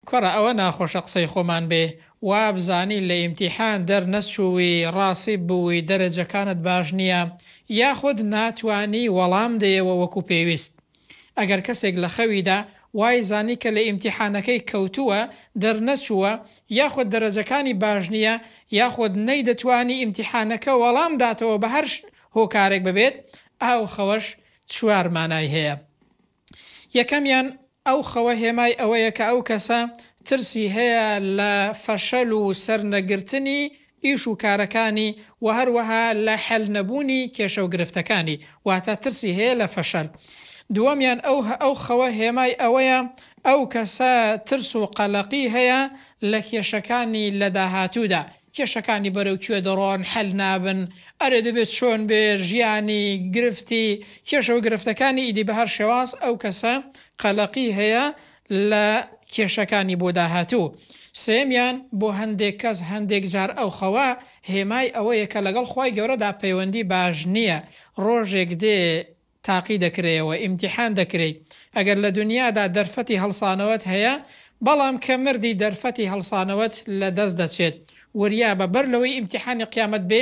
کوڕە ئەوە ناخۆشە قسەی خۆمان بێ وابزانی لە ئیمتیحان دەر نەچووی ڕاسیب بووی دەرەجەکانت باش نیە یاخود ناتوانی وەڵام دەیەوە وەکو پێویست ئەگەر کەسێک لە خەویدا وای زانی کە لە ئیمتیحانەکەی کەوتووە دەر نەچووە یاخود دەرەجەکانی باش نیە یاخود نەیدەتوانی ئیمتیحانەکە وەڵام داتەوە بە هەر هۆکارێک ببێت ئاو خەوەش چوار مانای هەیە. یەکەمیان ئەو خەوە هێمای ئەوەیە کە ئەو کەسە ترسی هەیە لە فەشەل و سەرنەگرتنی ئیش و کارەکانی و هەروەها لە حەل نەبوونی کێشە و گرفتەکانی، واتە ترسی هەیە لە فەشەل. دووەمیان ئەو ئەو خەوە هێمای ئەوەیە ئەو کەسە ترس و قەلەقی هەیە لە کێشەکانی لە داهاتوودا، کێشەکانی بەرەو کوێ دەڕۆن حەل نابن؟ ئەرێ دەبێت چۆن بێ ژیانی گرفتی کێشەو گرفتەکانی ئیدی بەهەر شێواز ئەو کەسە قەلەقی هەیە لە کێشەکانی بۆ داهاتوو سێیەمیان بۆ هەندێک کەس هەندێک جار ئەو خەوە هێمای ئەوەیە کە لەگەڵ خوای گەورەدا پەیوەندی باش نیە ڕۆژێک دێ تاقی دەکرێیەوە ئیمتیحان دەکرێی ئەگەر لە دونیادا دەرفەتی هەڵسانەوەت هەیە بەڵام کە مردی دەرفەتی هەڵسانەوەت لە دەست دەچێت وریابە بەر لەوەی ئیمتیحانی قیامەت بێ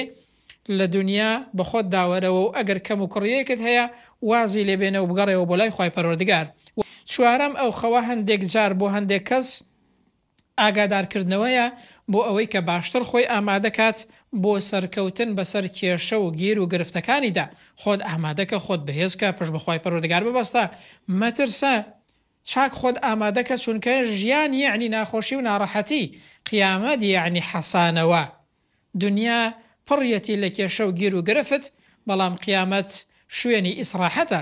لە دونیا بەخۆت داوەرەوە و ئەگەر کەم و کوڕیەکت هەیە وازی لێ بێنە و بگەڕێوە بۆ لای خوای پەروەردگار و چوارەم ئەو خەوە هەندێک جار بۆ هەندێک کەس ئاگادارکردنەوەیە بۆ ئەوەی کە باشتر خۆی ئامادە کات بۆ سەرکەوتن بەسەر کێشە و گێر و گرفتەکانیدا، خۆت ئامادەکە، خۆت بەهێزکە، پشت بە خوای پەروەردگار ببەستە، مەترسە، چاک خۆت ئامادەکە چونکە ژیان یەعنی ناخۆشی و ناڕەحەتی، قیامەت یەعنی حەسانەوە، دنیا پڕیەتی لە کێشە و گێر و گرفت، بەڵام قیامەت شوێنی ئیسڕاحەتە.